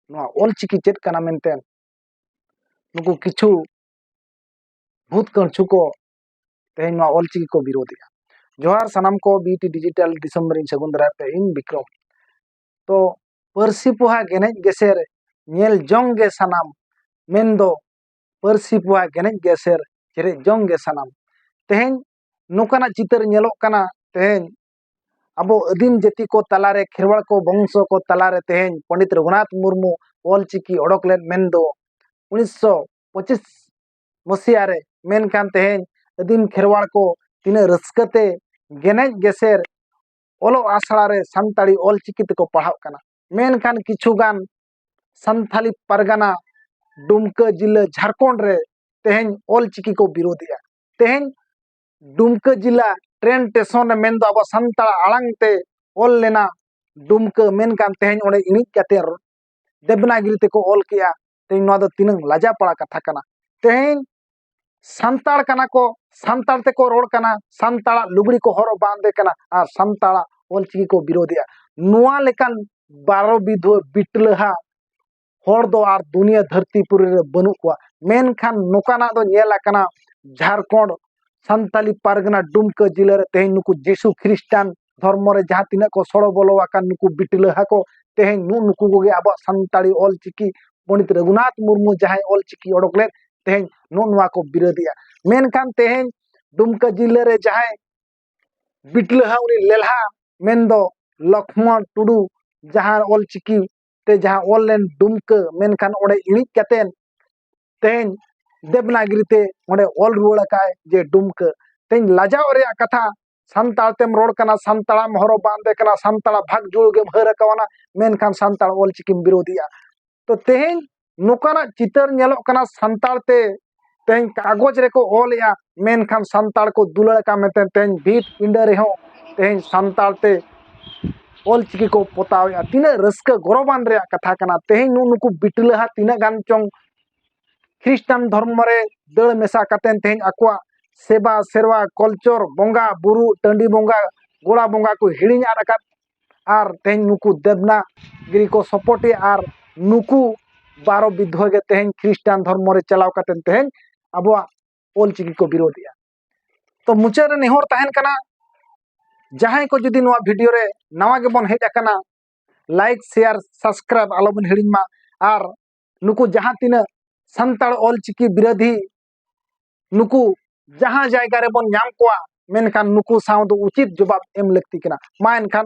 ᱱᱚᱣᱟ ᱚᱞ ᱪᱤᱠᱤ ᱪᱮᱫ ᱠᱟᱱᱟ ᱢᱮᱱᱛᱮ ᱱᱩᱠᱩ ᱠᱤᱪᱷᱩ ᱵᱷᱩᱛ ᱠᱟᱹᱬᱪᱩ ᱠᱚ ᱛᱮᱦᱮᱧ ᱱᱚᱣᱟ ᱚᱞ ᱪᱤᱠᱤ ᱠᱚ ᱵᱤᱨᱳᱫᱮᱜᱼᱟ ᱡᱚᱦᱟᱨ ᱥᱟᱱᱟᱢ ᱠᱚ ᱵᱤᱴᱤ ᱰᱤᱡᱤᱴᱟᱞ ᱫᱤᱥᱚᱢ ᱨᱤᱧ ᱥᱟᱹᱜᱩᱱ ᱫᱟᱨᱟᱭ ᱯᱮ ᱤᱧ ᱵᱤᱠᱨᱚᱢ ᱛᱚ ᱯᱟᱹᱨᱥᱤ ᱯᱚᱦᱟ ᱜᱮᱱᱮᱡ ᱜᱮᱥᱮᱨ ᱧᱮᱞ ᱡᱚᱝ ᱜᱮ ᱥᱟᱱᱟᱢ ᱢᱮᱱᱫᱚ ᱯᱟᱹᱨᱥᱤ ᱯᱚᱦᱟ ᱜᱮᱱᱮᱡ ᱜᱮᱥᱮᱨ ᱪᱮᱨᱮᱡ ᱡᱚᱝ ᱜᱮ ᱥᱟᱱᱟᱢ ᱛᱮᱦᱮᱧ ᱱᱚᱝᱠᱟᱱᱟᱜ ᱪᱤᱛᱟᱹᱨ ᱧᱮᱞᱚᱜ ᱠᱟᱱᱟ ᱛᱮᱦᱮᱧ ᱟᱵᱚ ᱟᱹᱫᱤᱢ ᱡᱟᱹᱛᱤ ᱠᱚ ᱛᱟᱞᱟᱨᱮ ᱠᱷᱮᱨᱣᱟᱲ ᱠᱚ ᱵᱚᱝᱥᱚ ᱠᱚ ᱛᱟᱞᱟᱨᱮ ᱛᱮᱦᱮᱧ ᱯᱚᱱᱰᱤᱛ ᱨᱚᱜᱷᱩᱱᱟᱛᱷ ᱢᱩᱨᱢᱩ ᱚᱞ ᱪᱤᱠᱤ ᱚᱰᱚᱠ ᱞᱮᱫ ᱢᱮᱱᱫᱚ ᱩᱱᱤᱥᱥᱚ ᱯᱚᱸᱪᱤᱥ ᱢᱚᱥᱤᱭᱟ ᱨᱮ ᱢᱮᱱᱠᱷᱟᱱ ᱛᱮᱦᱮᱧ ᱟᱹᱫᱤᱢ ᱠᱷᱮᱨᱣᱟᱲ ᱠᱚ ᱛᱤᱱᱟᱹᱜ ᱨᱟᱹᱥᱠᱟᱹᱛᱮ ᱜᱮᱱᱮᱡ ᱜᱮᱥᱮᱨ ᱚᱞᱚᱜ ᱟᱥᱲᱟ ᱨᱮ ᱥᱟᱱᱛᱟᱲᱤ ᱚᱞ ᱪᱤᱠᱤ ᱛᱮᱠᱚ ᱯᱟᱲᱦᱟᱜ ᱠᱟᱱᱟ ᱢᱮᱱᱠᱷᱟᱱ ᱠᱤᱪᱷᱩ ᱜᱟᱱ ᱥᱟᱱᱛᱷᱟᱞᱤ ᱯᱟᱨᱜᱟᱱᱟ ᱰᱩᱢᱠᱟᱹ ᱡᱤᱞᱟᱹ ᱡᱷᱟᱲᱠᱷᱚᱸᱰ ᱨᱮ ᱛᱮᱦᱮᱧ ᱚᱞ ᱪᱤᱠᱤ ᱠᱚ ᱵᱤᱨᱳᱫᱮᱜᱼᱟ ᱛᱮᱦᱮᱧ ᱰᱩᱢᱠᱟᱹ ᱡᱮᱞᱟ ᱴᱨᱮᱱ ᱥᱴᱮᱥᱚᱱ ᱨᱮ ᱢᱮᱱᱫᱚ ᱟᱵᱚ ᱥᱟᱱᱛᱟᱲ ᱟᱲᱟᱝ ᱛᱮ ᱚᱞ ᱞᱮᱱᱟ ᱰᱩᱢᱠᱟᱹ ᱢᱮᱱᱠᱷᱟᱱ ᱛᱮᱦᱮᱧ ᱚᱸᱰᱮ ᱤᱬᱤᱡ ᱠᱟᱛᱮ ᱫᱮᱵᱽᱱᱟᱜᱤᱨᱤ ᱛᱮᱠᱚ ᱚᱞ ᱠᱮᱜᱼᱟ ᱛᱮᱦᱮᱧ ᱱᱚᱣᱟ ᱫᱚ ᱛᱤᱱᱟᱹᱝ ᱞᱟᱡᱟ ᱯᱟᱲᱟ ᱠᱟᱛᱷᱟ ᱠᱟᱱᱟ ᱛᱮᱦᱮᱧ ᱥᱟᱱᱛᱟᱲ ᱠᱟᱱᱟ ᱠᱚ ᱥᱟᱱᱛᱟᱲ ᱛᱮᱠᱚ ᱨᱚᱲ ᱠᱟᱱᱟ ᱥᱟᱱᱛᱟᱲᱟᱜ ᱞᱩᱜᱽᱲᱤ ᱠᱚ ᱦᱚᱨᱚᱜ ᱵᱟᱸᱫᱮ ᱠᱟᱱᱟ ᱟᱨ ᱥᱟᱱᱛᱟᱲᱟᱜ ᱚᱞᱪᱤᱠᱤ ᱠᱚ ᱵᱤᱨᱳᱫᱮᱜᱼᱟ ᱱᱚᱣᱟ ᱞᱮᱠᱟᱱ ᱵᱟᱨᱚ ᱵᱤᱫᱷᱣᱟᱹ ᱵᱤᱴᱞᱟᱹᱦᱟ ᱦᱚᱲ ᱫᱚ ᱟᱨ ᱫᱩᱱᱤᱭᱟᱹ ᱫᱷᱟᱹᱨᱛᱤ ᱯᱩᱨᱤ ᱨᱮ ᱵᱟᱹᱱᱩᱜ ᱠᱚᱣᱟ ᱢᱮᱱᱠᱷᱟᱱ ᱱᱚᱝᱠᱟᱱᱟᱜ ᱫᱚ ᱧᱮᱞ ᱟᱠᱟᱱᱟ ᱡᱷᱟᱲᱠᱷᱚᱸᱰ ᱥᱟᱱᱛᱟᱞᱤ ᱯᱟᱨᱜᱟᱱᱟ ᱰᱩᱢᱠᱟᱹ ᱡᱤᱞᱟᱹ ᱨᱮ ᱛᱮᱦᱮᱧ ᱱᱩᱠᱩ ᱡᱤᱥᱩ ᱠᱷᱨᱤᱥᱴᱟᱱ ᱫᱷᱚᱨᱢᱚ ᱨᱮ ᱡᱟᱦᱟᱸ ᱛᱤᱱᱟᱹᱜ ᱠᱚ ᱥᱚᱲᱚ ᱵᱚᱞᱚ ᱟᱠᱟᱱ ᱱᱩᱠᱩ ᱵᱤᱴᱞᱟᱹ ᱦᱟᱠᱚ ᱛᱮᱦᱮᱧ ᱱᱩᱜ ᱱᱩᱠᱩ ᱠᱚᱜᱮ ᱟᱵᱚᱣᱟᱜ ᱥᱟᱱᱛᱟᱲᱤ ᱚᱞ ᱪᱤᱠᱤ ᱯᱚᱸᱰᱤᱛ ᱨᱟᱹᱜᱷᱩᱱᱟᱛᱷ ᱢᱩᱨᱢᱩ ᱡᱟᱦᱟᱸᱭ ᱚᱞ ᱪᱤᱠᱤ ᱚᱰᱚᱠ ᱞᱮᱫ ᱛᱮᱦᱮᱧ ᱱᱩᱜ ᱱᱚᱣᱟ ᱠᱚ ᱵᱤᱨᱳᱫᱮᱜᱼᱟ ᱢᱮᱱᱠᱷᱟᱱ ᱛᱮᱦᱮᱧ ᱰᱩᱢᱠᱟᱹ ᱡᱤᱞᱟᱹ ᱨᱮ ᱡᱟᱦᱟᱸᱭ ᱵᱤᱴᱞᱟᱹ ᱦᱟ ᱩᱱᱤ ᱞᱮᱞᱦᱟ ᱢᱮᱱᱫᱚ ᱞᱚᱠᱷᱢᱚᱬ ᱴᱩᱰᱩ ᱡᱟᱦᱟᱸ ᱚᱞ ᱪᱤᱠᱤ ᱛᱮ ᱡᱟᱦᱟᱸ ᱚᱞ ᱞᱮᱱ ᱰᱩᱢᱠᱟᱹ ᱢᱮᱱᱠᱷᱟᱱ ᱚᱸᱰᱮ ᱤᱬᱤᱡ ᱠᱟᱛᱮᱱ ᱛᱮᱦᱮᱧ ᱫᱮᱵᱽᱱᱟᱜᱤᱨᱤ ᱛᱮ ᱚᱸᱰᱮ ᱚᱞ ᱨᱩᱣᱟᱹᱲ ᱟᱠᱟᱫ ᱡᱮ ᱰᱩᱢᱠᱟᱹ ᱛᱮᱦᱮᱧ ᱞᱟᱡᱟᱣ ᱨᱮᱭᱟᱜ ᱠᱟᱛᱷᱟ ᱥᱟᱱᱛᱟᱲ ᱛᱮᱢ ᱨᱚᱲ ᱠᱟᱱᱟ ᱥᱟᱱᱛᱟᱲᱟᱜ ᱮᱢ ᱦᱚᱨᱚᱜ ᱵᱟᱸᱫᱮ ᱠᱟᱱᱟ ᱥᱟᱱᱛᱟᱲᱟᱜ ᱵᱷᱟᱜᱽ ᱡᱩᱲᱩᱜᱮᱢ ᱦᱟᱹᱨ ᱟᱠᱟᱣᱱᱟ ᱢᱮᱱᱠᱷᱟᱱ ᱥᱟᱱᱛᱟᱲ ᱚᱞᱪᱤᱠᱤᱢ ᱵᱤᱨᱳᱫᱷᱤᱭᱟ ᱛᱚ ᱛᱮᱦᱮᱧ ᱱᱚᱝᱠᱟᱱᱟᱜ ᱪᱤᱛᱟᱹᱨ ᱧᱮᱞᱚᱜ ᱠᱟᱱᱟ ᱥᱟᱱᱛᱟᱲ ᱛᱮ ᱛᱮᱦᱮᱧ ᱠᱟᱜᱚᱡᱽ ᱨᱮᱠᱚ ᱚᱞᱮᱜᱼᱟ ᱢᱮᱱᱠᱷᱟᱱ ᱥᱟᱱᱛᱟᱲ ᱠᱚ ᱫᱩᱞᱟᱹᱲ ᱟᱠᱟᱱ ᱢᱮᱱᱛᱮ ᱛᱮᱦᱮᱧ ᱵᱷᱤᱛ ᱯᱤᱸᱰᱟᱹ ᱨᱮᱦᱚᱸ ᱛᱮᱦᱮᱧ ᱥᱟᱱᱛᱟᱲ ᱛᱮ ᱚᱞ ᱪᱤᱠᱤ ᱠᱚ ᱯᱚᱛᱟᱣᱮᱜᱼᱟ ᱛᱤᱱᱟᱹᱜ ᱨᱟᱹᱥᱠᱟᱹ ᱜᱚᱨᱚᱵᱟᱱ ᱨᱮᱭᱟᱜ ᱠᱟᱛᱷᱟ ᱠᱟᱱᱟ ᱛᱮᱦᱮᱧ ᱱᱩᱜ ᱱᱩᱠᱩ ᱵᱤᱴᱞᱟᱹᱦᱟ ᱛᱤᱱᱟᱹᱜ ᱜᱟᱱ ᱪᱚᱝ ᱠᱷᱨᱤᱥᱴᱟᱱ ᱫᱷᱚᱨᱢᱚ ᱨᱮ ᱫᱟᱹᱲ ᱢᱮᱥᱟ ᱠᱟᱛᱮᱱ ᱛᱮᱦᱮᱧ ᱟᱠᱚᱣᱟᱜ ᱥᱮᱵᱟ ᱥᱮᱨᱣᱟ ᱠᱚᱞᱪᱚᱨ ᱵᱚᱸᱜᱟ ᱵᱩᱨᱩ ᱴᱟᱺᱰᱤ ᱵᱚᱸᱜᱟ ᱜᱚᱲᱟ ᱵᱚᱸᱜᱟ ᱠᱚ ᱦᱤᱲᱤᱧ ᱟᱫ ᱟᱠᱟᱫ ᱟᱨ ᱛᱮᱦᱮᱧ ᱱᱩᱠᱩ ᱫᱮᱵᱽᱱᱟ ᱜᱤᱨᱤ ᱠᱚ ᱥᱚᱯᱚᱨᱴ ᱮᱫᱟ ᱟᱨ ᱱᱩᱠᱩ ᱵᱟᱨᱚ ᱵᱤᱫᱷᱣᱟᱹ ᱜᱮ ᱛᱮᱦᱮᱧ ᱠᱷᱨᱤᱥᱴᱟᱱ ᱫᱷᱚᱨᱢᱚ ᱨᱮ ᱪᱟᱞᱟᱣ ᱠᱟᱛᱮ ᱛᱮᱦᱮᱧ ᱟᱵᱚᱣᱟᱜ ᱚᱞ ᱪᱤᱠᱤ ᱠᱚ ᱵᱤᱨᱳᱫ ᱮᱫᱟ ᱛᱚ ᱢᱩᱪᱟᱹᱫ ᱨᱮ ᱱᱮᱦᱚᱨ ᱛᱟᱦᱮᱱ ᱠᱟᱱᱟ ᱡᱟᱦᱟᱸᱭ ᱠᱚ ᱡᱩᱫᱤ ᱱᱚᱣᱟ ᱵᱷᱤᱰᱤᱭᱳ ᱨᱮ ᱱᱟᱣᱟ ᱜᱮᱵᱚᱱ ᱦᱮᱡ ᱟᱠᱟᱱᱟ ᱞᱟᱭᱤᱠ ᱥᱮᱭᱟᱨ ᱥᱟᱵᱥᱠᱨᱟᱭᱤᱵ ᱟᱞᱚᱵᱚᱱ ᱦᱤᱲᱤᱧ ᱢᱟ ᱟᱨ ᱱᱩᱠᱩ ᱡᱟᱦᱟᱸ ᱛᱤᱱᱟᱹᱜ ᱥᱟᱱᱛᱟᱲ ᱚᱞ ᱪᱤᱠᱤ ᱵᱤᱨᱳᱫᱷᱤ ᱱᱩᱠᱩ ᱡᱟᱦᱟᱸ ᱡᱟᱭᱜᱟ ᱨᱮᱵᱚᱱ ᱧᱟᱢ ᱠᱚᱣᱟ ᱢᱮᱱᱠᱷᱟᱱ ᱱᱩᱠᱩ ᱥᱟᱶ ᱫᱚ ᱩᱪᱤᱛ ᱡᱚᱵᱟᱵ ᱮᱢ ᱞᱟᱹᱠᱛᱤ ᱠᱟᱱᱟ ᱢᱟ ᱮᱱᱠᱷᱟᱱ